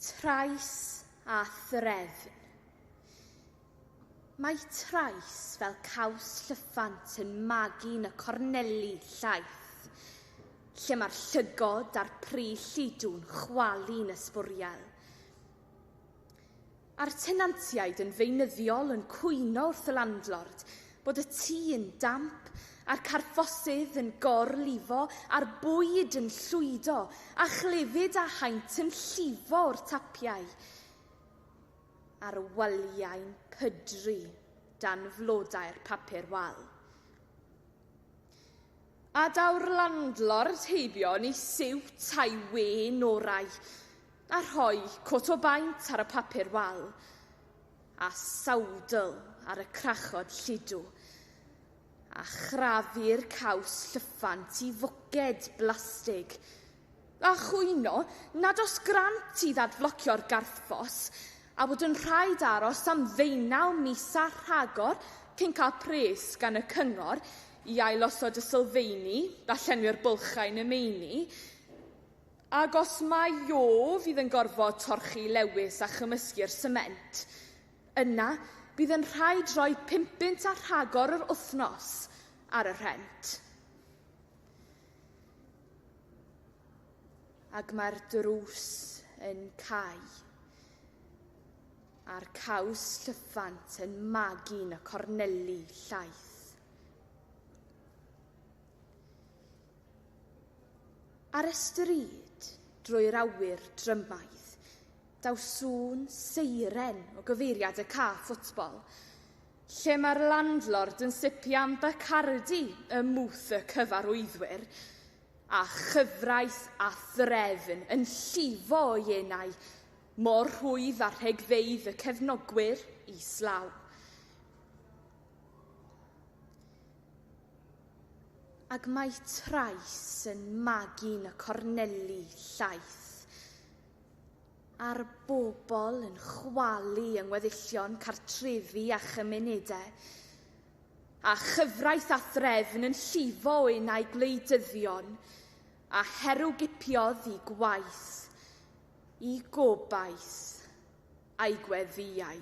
Trais a threfn. Mae trais fel caws llyffant yn magu yn y corneli llaith, lle mae'r llygod a'r pry llidw'n chwalu'n ysbwriel. A'r tenantiaid yn feunyddiol yn cwyno wrth y landlord bod y tŷ yn damp, a'r carffosydd yn gor-lifo, a'r bwyd yn llwydo, a chlefyd a haint yn llifo o'r tapiau, a'r waliau'n pydru dan flodau'r papur wal. A daw'r landlord heibio yn ei siwt a'i wên orau, a rhoi cot o baent ar y papur wal, a sawdl ar y crachod lludw, a chrafu'r caws llyffant i foced blastig, a chwyno nad oes grant i ddadflocio'r garthffos, a bod yn rhaid aros am ddeunaw mis a rhagor cyn cael pres gan y cyngor i ailosod y sylfeini a llenwi'r bylchau yn y meini, Ac os mai o fydd yn gorfod torchi Lewis a chymysgu'r sement, yna bydd yn rhaid rhoi pumpunt a rhagor yr wythnos ar y rhent. Ac mae'r drws yn cau a'r caws llyffant yn magu'n y corneli llaeth. Ar y stryd, drwy'r awyr drymaidd, daw sŵn seiren o gyfeiriad y ca ffwtbol, lle mae'r landlord yn sipio am Bacardi ym mwth y cyfarwyddwyr, a chyfraith a threfn yn llifo o ienau mor rhwydd â rhegfeydd y cefnogwyr islaw. Ac mae trais yn magu'n y corneli llaeth, a'r bobl yn chwalu yng ngweddillion cartrefi a chymunedau, a chyfraith a threfn yn llifo un ai gwleidyddion a herwgipiodd i gwaith, i gobaith, a'i gweddïau.